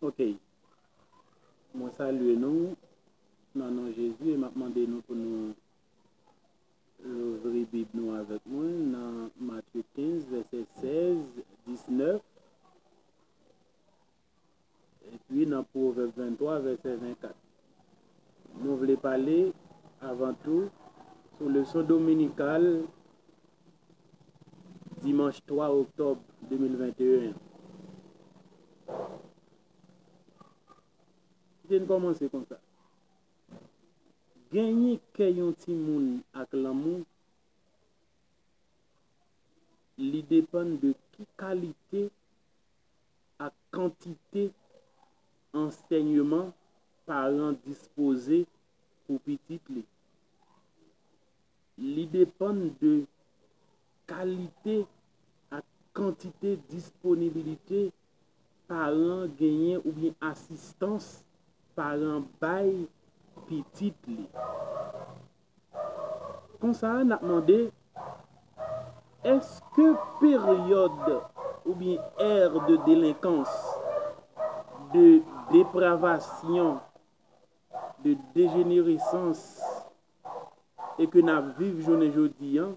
Ok Mwen salye nou nan non Jezi e m ap mande nou pou nou louvri Bib nou avèk mwen nan Matye 15, vèsè 16, 19 epi nan Pwovèb 23, vèsè 24. Nou vle pale avan tou sou leson dominikal dimanch 3 oktòb 2021 an. Kite n kòmanse konsa. Genyen kè yon timoun ak lanmou li depann de ki kalite ak kantite ansèyeman paran dispoze pou pitit li. Li depann de kalite ak kantite disponibilite paran an genyen oubyen asistans paran an bay pitit li. Konsa, n ap mande, Èske peryòd oubyen ère de délinquance, de dépravation, de dégénérescence e ke n ap viv jounen jodi an,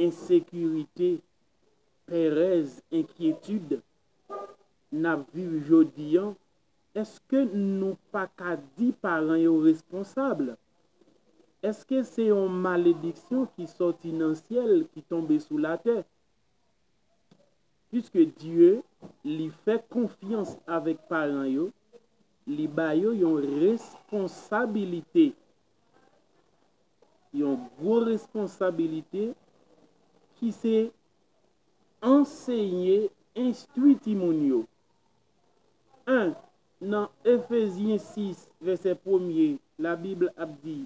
ensekirite, pèrèz, enkyetid, n ap viv jodi an, èske nou pa ka di paran yo responsab? Èske se yon malediksyon ki sòti nan syèl ki tonbe sou latè? Piske Dye li fè konfyans avèk paran yo, Li ba yo yon responsabilite, yon gwo responsabilite ki se ansenye, enstwi timoun yo. 1 Nan Efezyen 6, vèsè premye, Labib ap di,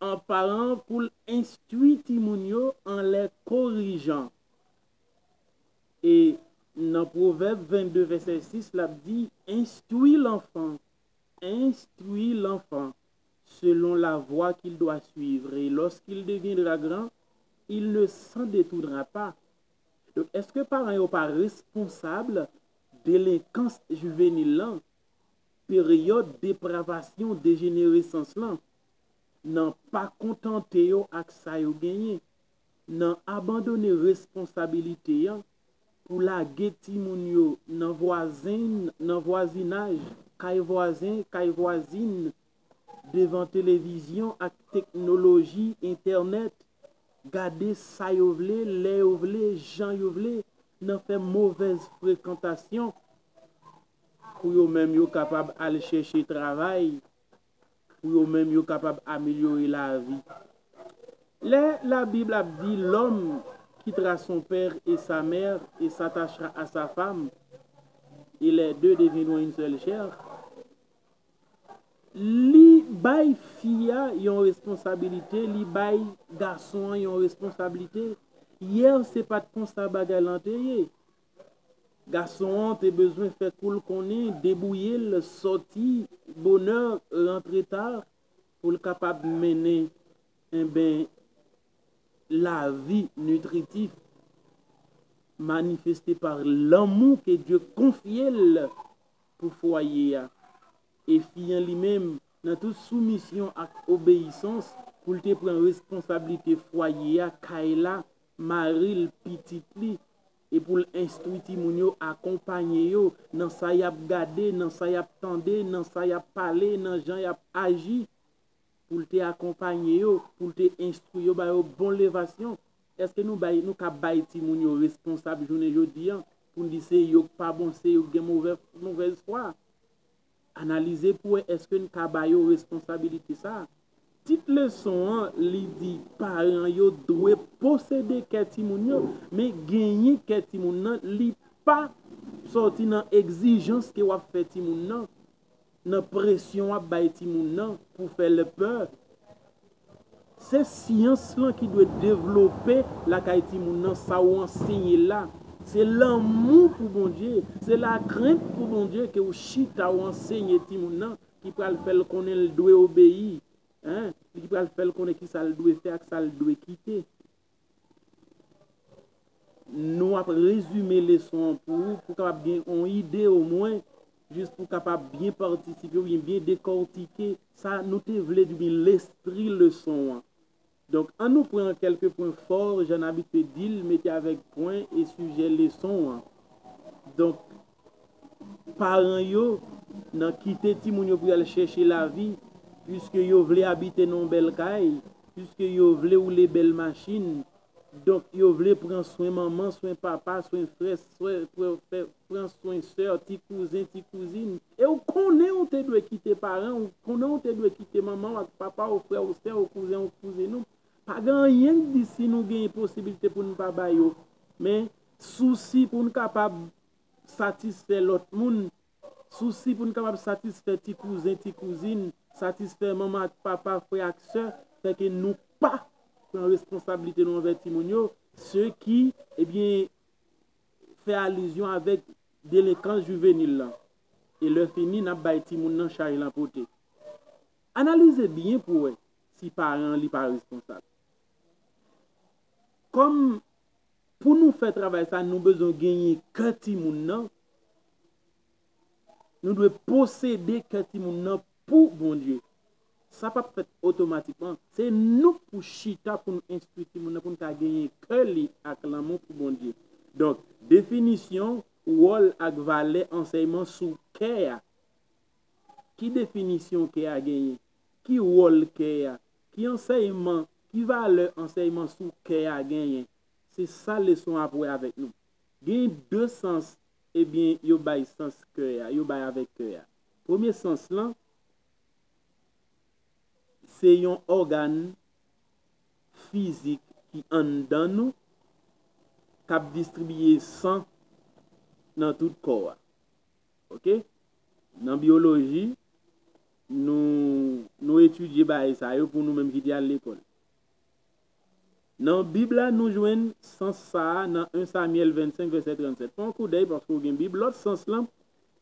An paran an pou l enstwi timoun yo anlè korijan. E nan Pwovèb 22 vèsè 6 l ap di, Enstwi lanfan, enstwi lanfan selon la vwa kil dwa suivre e loskil deviendra gran, il ne s'en detournera pas. Donk eske paran yo pa responsab delenkans jivenil lan, peryòd depravasyon dejeneresans lan, nan pa kontante yo ak sa yo genyen? nan abandone responsabilite an pou lage timoun yo nan vwazen, nan vwazinaj, kay vwazen, kay vwazin, devan televizyon ak teknoloji, entènèt, gade sa yo vle, lè yo vle, jan yo vle, nan fè movèz frekantasyon, pou yo menm yo kapab al chèche travay, pou yo menm yo kapab amelyore lavi. Lè labib ap di lòm kittra son père et sa mère et s'attachera à sa femme et les deux deviendront une seule chair li bay fi a yon responsabilite li bay gason an yon responsablite yè se pat konsa bagay lan te ye Gason an te bezwen fè kou l konnen, debouye l, sòti bonè, rantre ta, pou l kapab mennen enben lavi nitritif, manifeste pa lanmou ke Dye konfye l pou fwaye a. E fi an li menm, nan tout soumisyon ak obeyisans, pou l te pran responsablite fwaye a, kay la, mari l, pitit li, e pou l enstwi timoun yo, akonpanye yo, nan sa y ap gade, nan sa y ap tande, nan sa y ap pale, nan jan y ap aji, pou l te akonpanye yo, pou l te enstwi yo, ba yo bon levasyon. Èske nou bay, nou ka bay timoun yo responsab jounen jodi an, pou n di se yo k pa bon, se yo k gen movè, movèz fwa? Analize pou wè èske n ka ba yo responsabilite sa a. Tit leson an li di paran yo dwe posede kè timoun yo, men genyen kè timoun nan li pa sòti nan egzijans ke w ap fè timoun nan, nan presyon w ap bay timoun nan pou fè l pè. Se syans lan ki dwe devlope lakay timoun nan sa ou anseye la. Se lanmou pou Bondye, se lakrent pou Bondye ke ou chita ou anseye timoun nan ki pral fè l konnen l dwe obeyi, li ki pral fè l konnen kisa l dwe fè ak sa l dwe kite. Nou ap rezime leson an pou ou pou w kapab gen yon ide omwen, jis pou w kapab byen patisipe oubyen byen dekòtike sa nou te vle di oubyen lespri leson an. Donk, an nou pran kèlke pwen fò, jan n abitye di l, mete avèk pwen e sijè leson an. Donk, paran yo nan kite timoun yo pou y al chèche lavi, piske yo vle abite nan yon bèl kay, piske yo vle woule bèl machin. Donk, yo vle pran swen manman, swen papa, swen frè, sè, pran swen sè, ti kouzen, ti kouzin. E ou konnen ou te dwe kite paran ou, konnen ou te dwe kite manman ou ak papa ou, frè ou, sè ou, kouzen ou, kouzin ou. Pa gen anyen ki di si nou gen posiblite pou n pa ba yo. Men, sousi pou n kapab satisfè lòt moun, sousi pou n kapab satisfè ti kouzen, ti kouzin, satisfè manman ak papa, frè ak sè, fè ke nou pa pran responsablite nou anvè timoun yo, se ki, ebyen, fè alizyon avèk delenkans jivenil lan. E lè fini, n ap bay timoun nan chaj l ap pote. Analize byen pou w wè si paran an li pa responsab. Kòm pou nou fè travay sa nou bezwen genyen kè timoun nan, nou dwe posede kè timoun nan pou Bondye. Sa pap fèt otomatikman, se nou k pou chita pou nou enstwi timoun nan pou n ka genyen kè li ak lanmou pou Bondye. Donk, definisyon, wòl ak valè ansèyman sou kè a. Ki definisyon kè a genyen? Ki wòl kè a? Ki ansèyman, ki valè ansèyman sou kè a genyen? Se sa leson ap wè avèk nou. Gen de sans ebyen yo bay sans kè a, yo bay avèk kè a. Premye sans lan, se yon ògàn fizik ki anndan nou k ap distribiye san nan tout kò a. Ok nan bioloji nou nou etidye bagay sa yo pou nou menm ki te al lekòl. Nan bib la nou jwenn sans sa a nan 1 Samyèl 25 vèsè 37 fè yon koudèy paske ou gen bib lòt sans lan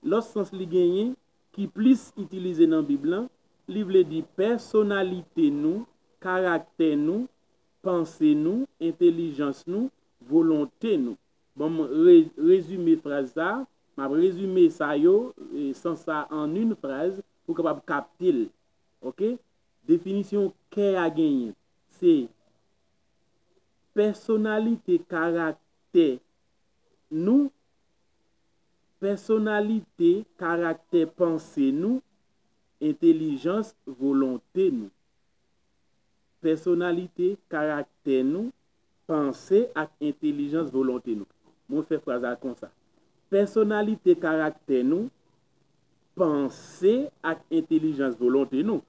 lòt sans li genyen ki plis itilize nan bib lan li vle di pèsonalite nou karaktè nou panse nou entelijans nou volonte nou. Bon m re rezime fraz sa, m ap rezime sa yo, sans sa an yn fraz pou w kapab kapte l ok. Definisyon kè a genyen se pèsonalite karaktè nou, pèsonalite karaktè panse nou, entelijans volonte nou. Pèsonalite karaktè nou, panse ak entelijans volonte nou. Mwen fè fraz la konsa, Pèsonalite karaktè nou panse ak entelijans volonte nou.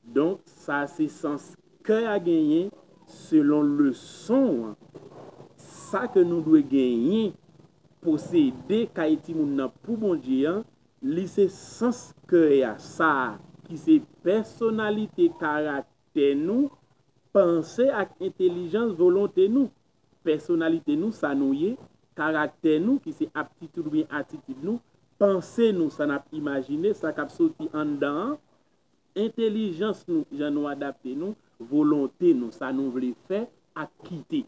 Donk, sa se sans kè a genyen selon leson an. Sa ke nou dwe genyen, posede kay timoun nan pou Bondye an, li se sans kè a, sa a ki se pèsonalite karaktè. karaktè nou, panse ak entelijans volonte nou, pèsonalite nou, sa nou ye, karaktè nou, ki se aptitid oubyen atitid nou, panse nou, sa n ap imajine, sa k ap soti anndan an, entelijans nou, jan nou adapte nou, volonte nou, sa nou vle fè ak kite.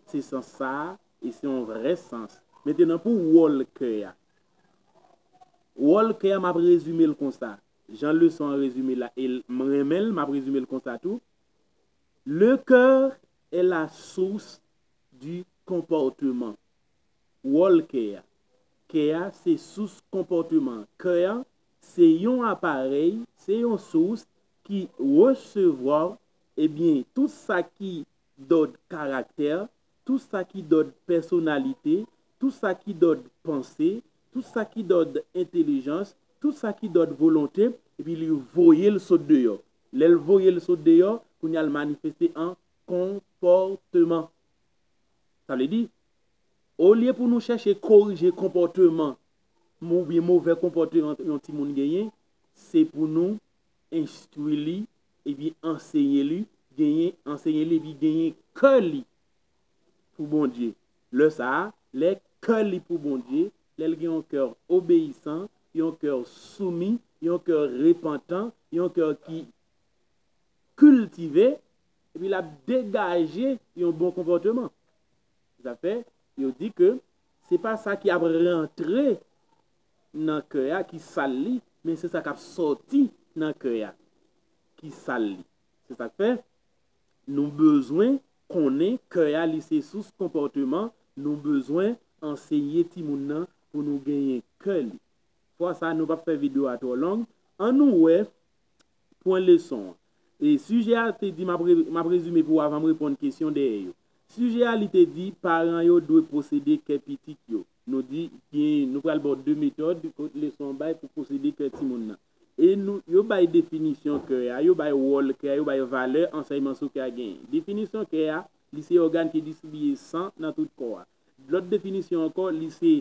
Se sans sa a, e se yon vrè sans. Mentenan pou wòl kè a. Wòl kè a m ap rezime l konsa, Jan leson an rezime la e m renmen l, m ap rezime l konsa tou, Le coeur est la source du comportement. Wòl kè a. Kè a se sous konpòteman an. Kè an se yon aparèy, se yon sous ki resevwa, ebyen, tout sa ki dòd karaktè, tou sa ki dòd pèsonalite, tou sa ki dòd panse, tou sa ki dòd entelijans, tou sa ki dòd volonte, epi li voye l sot deyò. Lè l voye l sot deyò, kounye a l manifeste an konpòteman. Sa vle di, olye pou nou chèche korije konpòteman oubyen move konpòteman yon timoun genyen, se pou nou enstwi li epi ansenye li genyen ansenye li epi genyen kè li pou Bondye lè sa a lè kè li pou Bondye lè l gen yon kè obeyisan yon kè soumi yon kè repantan yon kè ki kiltive epi l ap degaje yon bon konpòteman sa fè yo di ke se pa sa ki ap rantre nan kè a ki sal li, men se sa k ap sòti nan kè a ki sal li. Se sa k fè, nou bezwen konnen kè a li se sous konpòteman, nou bezwen anseye timoun nan pou nou genyen kè li. Fwa sa a nou p ap fè videyo a twò long, an nou wè pwen leson an. E sijè a te di, m ap rezime pou ou avan m reponn kesyon dèyè yo. Sijè a li te di, paran yo dwe posede kè pitit yo. Nou di gen, nou pral ba w de metòd kot leson an bay pou posede kè timoun nan. E nou, yo bay definisyon kè a, yo bay wòl kè a, yo bay valè ansèyman sou kè a genyen. Definisyon kè a, li se ògàn ki distribiye san nan tout kò a. Lòt definisyon ankò, li se,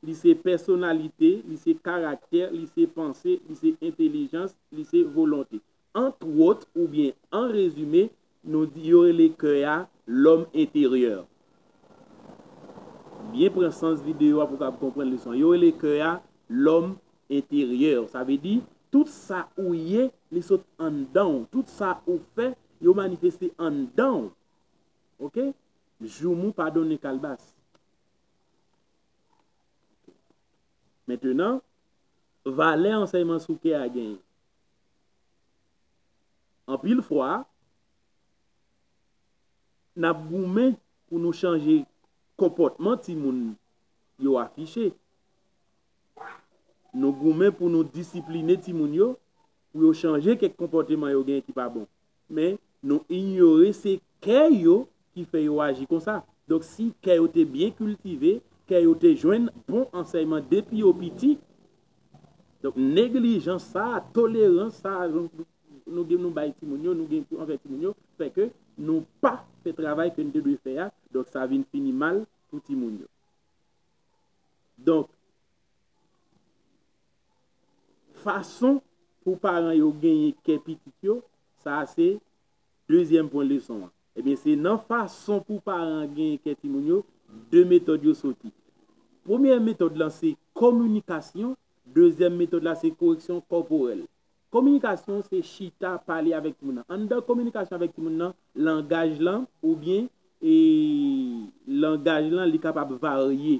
li se pèsonalite, li se karaktè, li se panse, li se entelijans, li se volonte. Antwòt oubyen an rezime, nou di yo rele kè a lòm enteryè. Byen pran sans videyo a pou w kab konprann leson an. Yo rele kè a lòm enteryè. Sa vle di, tout sa ou ye, li sot anndan ou. Tout sa ou fè, yo manifeste anndan ou. Ok? Joumou pa donnen kalbas. Mentenan, valè ansèyman sou kè a genyen. Anpil fwa, n ap goumen pou nou chanje konpòtman timoun yo afiche. Nou goumen pou nou disipline timoun yo pou yo chanje kèk konpòteman yo gen ki pa bon. Men, nou inyore se kè yo ki fè yo aji konsa. Donk, si kè yo te byen kiltive, kè yo te jwenn bon ansèyman depi yo piti, donk neglijans sa a, tolerans sa a nou bay timoun yo, nou gen anvè timoun yo, fè ke nou pa fè travay ke nou te dwe fè a, donk sa vin fini mal pou timoun yo. Donk. fason pou paran yo genyen kè pitit yo, sa a se dezyèm pwen leson an. Ebyen se nan fason pou paran genyen kè timoun yo, de metòd yo soti. Premye metòd lan se kominikasyon, dezyèm metòd la se koreksyon kòporèl. Kominikasyon se chita pale avèk timoun nan. Anndan kominikasyon avèk timoun nan, langaj lan oubyen langaj lan li kapab varye.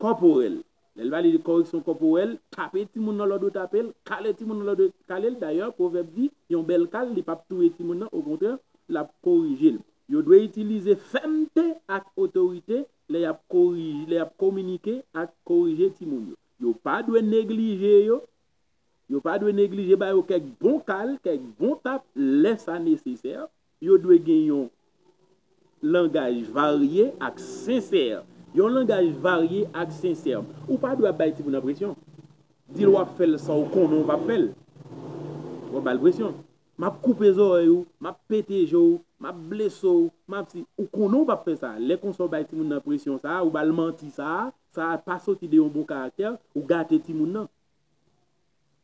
kòporèl. Lè l pale de kòreksyon kòporèl, tape timoun nan lòd yo tape l, kale timoun nan lòd yo kale l. Dayè, pwovèb di, yon bèl kal li p ap touye timoun nan, okontrè, l ap korije l. Yo dwe itilize fèmte ak otorite lè y ap korije, lè y ap kominike ak korije timoun yo. Yo pa dwe neglije yo, yo pa dwe neglije ba yo kèk bon kal, kèk bon tap lè sa nesesè. Yo dwe gen yon langaj varye ak sensè. Yon langaj varye ak sensè. Ou pa dwe ap bay timoun nan presyon. Di l w ap fè l san w konnen w pap fè l. W ap ba l presyon. M ap koupe zòrèy ou. M ap pete je w. M ap blese w. M ap si. Ou konnen w pap fè sa. Lè konsa w bay timoun nan presyon sa a, ou ba l manti sa a, sa a pa soti de yon bon karaktè, ou gate timoun nan.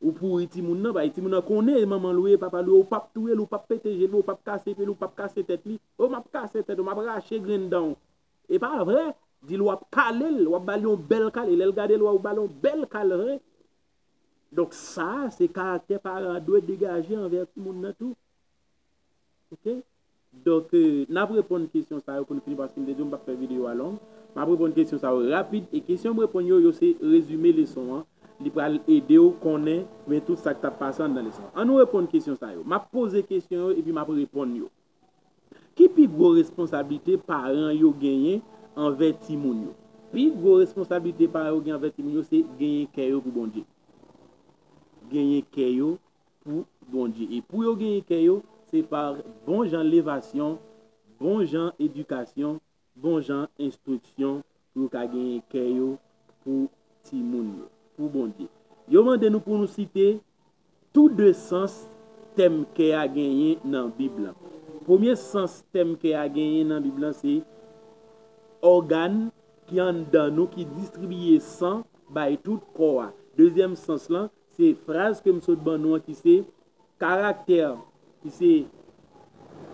Ou pouri timoun nan bay timoun nan konnen e manmanl ou ye e papal ou ye ou pap touyel ou pap pete jel ou pap kase pyel ou pap kase tèt li o map kase tèt ou map rache grenn danw epa vre dil wap kalel wap bal yon bèl kale lèl gadel wè ou bal yon bèl kal vre donk sa se karaktè paran an dwe degaje anvè timoun nan tou. Ok Donk n ap reponn kesyon sa yo pou n fini paske m te di w m p ap fè videyo a long. M ap reponn kesyon sa yo rapid e kesyon m reponn yo, yo se rezime leson an. Li pral ede w konnen byen tout sa k t ap pase anndan leson an. Annou reponn kesyon sa yo. M ap poze kesyon yo epi m ap reponn yo. Ki pi gwo responsablite paran yo genyen anvè timoun yo? Pi gwo responsablite paran yo genyen anvè timoun yo se genyen kè yo pou Bondye. Genyen kè yo pou Bondye. E pou yo genyen kè yo, se pa bon jan levasyon, bon jan edikasyon, bon jan enstriksyon pou yo ka genyen kè yo pou timoun yo, pou Bondye. Yo mande nou pou nou site tou de sans tèm kè a genyen nan Bib la. Premye sans tèm kè a genyen nan Bib la se ògàn ki anndan nou ki distribiye san bay tout kò a. Dezyèm sans lan Se fraz ke m sot ban nou an ki se, Karaktè, ki se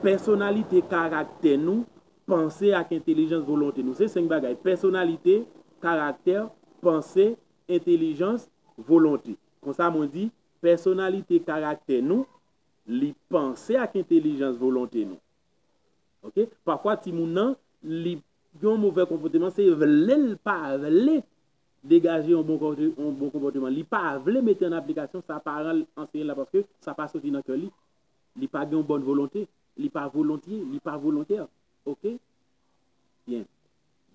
pèsonalite, karaktè nou, panse ak entelijans, volonte nou. Se senk bagay, pèsonalite, karaktè, panse, entelijans, volonte. Konsa mwen di, pèsonalite, karaktè nou, li panse ak entelijans, volonte nou. Ok? Pafwa timoun nan, li gen yon move konpoteman, se vle l pa vle degaje yon bon konpòteman. Li pa vle mete an aplikasyon sa paran l anseye l la paske sa pa soti nan kè li. Li pa gen yon bòn volonte. Li pa volontye. Li pa volontè. Ok? Byen.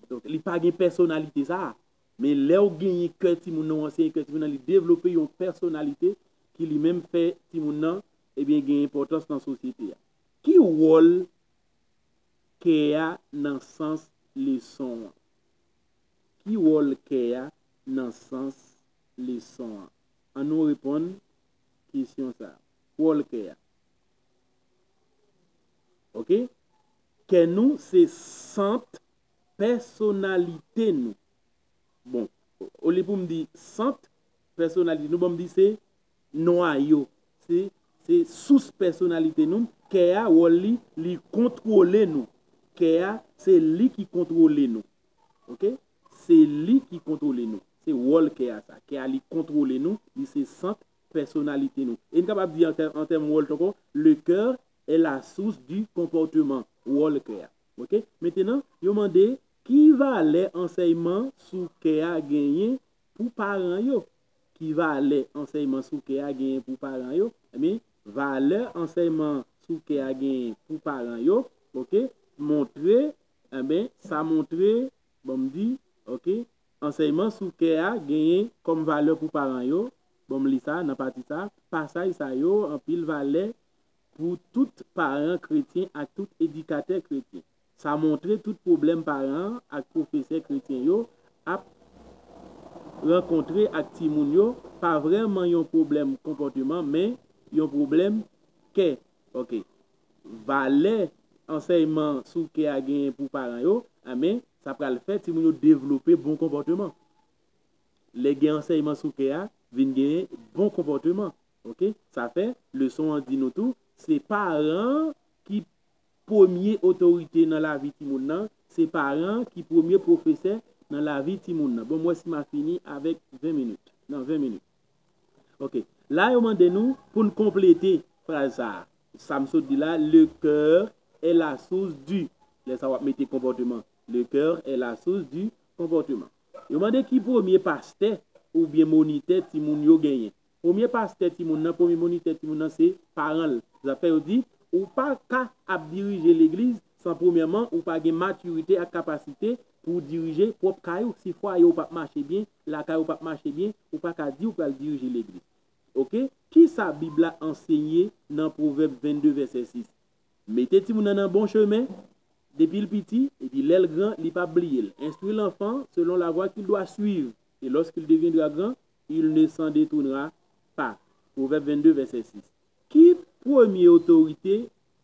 Donk, li pa gen pèsonalite sa a. Men lè ou genyen kè timoun nan, ou anseye kè timoun nan, li devlope yon pèsonalite ki li menm fè timoun nan ebyen gen enpòtans nan sosyete a. Ki wòl kè a nan sans leson an? Ki wòl kè a nan sans leson an? An nou reponn kesyon sa a. Ki wòl kè a? Ok. Kè nou se sant pèsonalite nou. Bon, olye pou m di sant pèsonalite nou, bon m di se. Nwayo, se, se sous pèsonalite nou, kè a, wòl li, li kontwole nou. Kè a, se li ki kontwole nou. Ok? Se li ki kontwole nou. Se wòl kè a sa. Kè a li kontwole nou, li se sant pèsonalite nou. E n kapab di an tèm wòl tou ankò, le coeur est la source du comportement. Wòl kè a. Ok? Mentenan, yo mande, ki valè ansèyman sou kè a genyen Pou paran yo, ki valè ansèyman sou kè a genyen pou paran yo? Ebyen, valè ansèyman sou kè a genyen pou paran yo, ok, montre, enben, sa montre, ban m di, ok, ansèyman sou kè a genyen kòm valè pou paran yo, ban m li sa nan pati sa, pasaj sa yo anpil valè pou tout paran kretyen ak tout edikatè kretyen. Sa montre tout pwoblèm paran an ak pwofesè kretyen yo ap rankontre ak timoun yo pa vrèman yon pwoblèm konpòteman men yon pwoblèm kè. Ok. Valè ansèyman sou kè a genyen pou paran yo, anben, sa pral fè timoun yo devlope bon konpòteman. Lè gen ansèyman sou kè a, vin gen bon konpòteman. Ok. Sa fè, leson an di nou tou, se paran an ki Premye otorite nan lavi timoun nan, se paran an ki premye pwofesè nan lavi timoun nan. Bon m wè si m a fini avèk 20 minit. Nan 20 minit. Ok. La yo mande nou pou n konplete fraz sa a. Sa m sot di la, le coeur est la source du. Lè sa w ap mete konpòteman. Le coeur est la source du comportement. Yo mande ki premye pastè oubyen monitè timoun yo genyen. Premye pastè timoun nan, premye monitè timoun nan se paran l. Zafè yo di, ou pa ka ap dirije legliz san premyèman ou pa gen matirite ak kapasite pou w dirije pwòp kay ou. Si fwaye w p ap mache byen, lakay ou p ap mache byen, ou pa ka di ou pral dirije legliz. Ok, kisa Bib la ansenye nan Pwovèb 22 vèsè 6? Mete timoun nan nan bon chemen depi l piti, epi lè l gran, li p ap bliye l. Enstwi lanfan selon lavwa ki l dwa swiv, e lòske l devyendra gran, Il ne s'en detournera pas, Pwovèb 22 vèsè 6. Ki premye otorite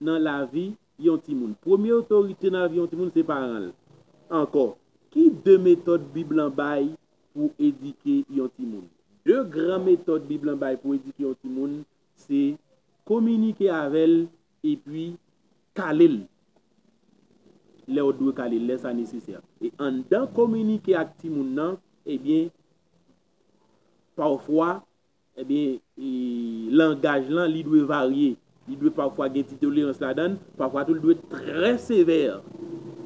nan lavi yon timoun? Premye otorite nan lavi yon timoun se paran l. Ankò, ki de metòd Bib lan bay pou edike yon timoun? De gran metòd Bib lan bay pou edike yon timoun se kominike avè l epi kale l lè w dwe kale l, lè sa nesesè. E anndan kominike ak timoun nan, ebyen, pafwa ebyen langaj lan li dwe varye, li dwe pafwa gen ti tolerans ladan l, pafwa tou li dwe trè sevè.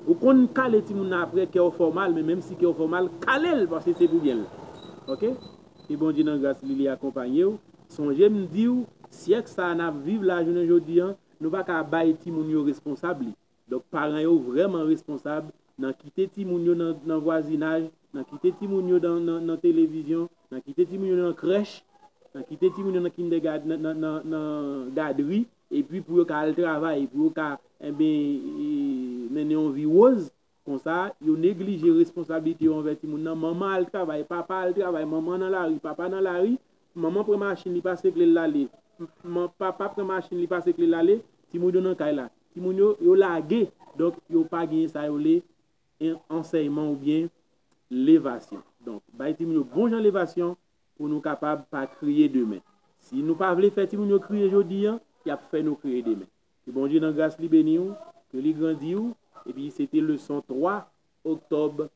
Ou konn kale timoun nan aprè kè w fè w mal men menm si kè w fè w mal kale l paske se pou byen l. Ok ke Bondye nan gras li li akonpanye w, sonje m di w syèk sa a n ap viv la jounen jodi an nou pa ka bay timoun yo responsab li. Donk paran yo vrèman responsab nan kite timoun yo nan vwazinaj, nan kite timoun yo nan televizyon, nan kite timoun yo nan krèch, nan kite timoun yo nan kindègad, nan gadri, epi pou yo ka al travay, pou yo ka enben mennen yon vi woz, konsa yo neglije responsablite yo anvè timoun nan, manman al travay, papa al travay, manman nan lari, papa nan lari, Manman pran machin li pase kle l ale Papa pran machin li pase kle l ale Timoun yo nan kay la Timoun yo, yo lage Donk, yo pa genyen sa yo rele ansèyman oubyen levasyon Donk, bay timoun yo bon jan levasyon pou nou kapab pa kriye demen Si nou pa vle fè timoun yo kriye jodi an, y ap fè nou kriye demen Ke Bondye nan gras li beni ou Ke li grandi ou Epi se te leson 3 oktòb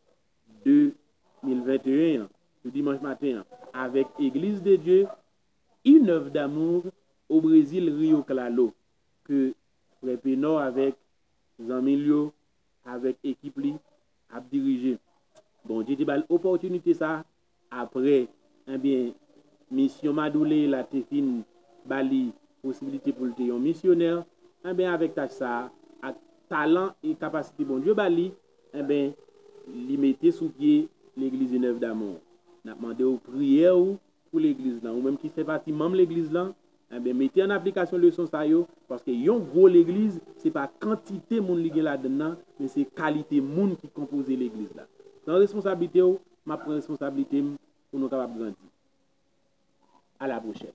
2021 an sou dimanch maten an avèk Église de Dieu, une œuvre d'amour au Brésil Rio Claro ke frè Penor avèk zanmi l yo, avèk ekip li ap dirije. Bondye te ba l opòtinite sa Apre, enbyen, misyon Madouley la te fin ba li posibilite pou l te yon misyonè, enben, avèk tach sa a, ak talan e kapasite Bondye ba li, enben, li mete sou pye Legliz Une Œuvre d'Amour. N ap mande w priyè ou pou Legliz lan. Ou menm ki fè pati manm Legliz lan, enben, mete an aplikasyon leson sa yo, paske yon gwo Legliz, se pa kantite moun li gen ladann nan, men se kalite moun ki konpoze Legliz la. Pran responsablite w, m ap pran responsablite m pou nou kapab grandi. A la pwochèn.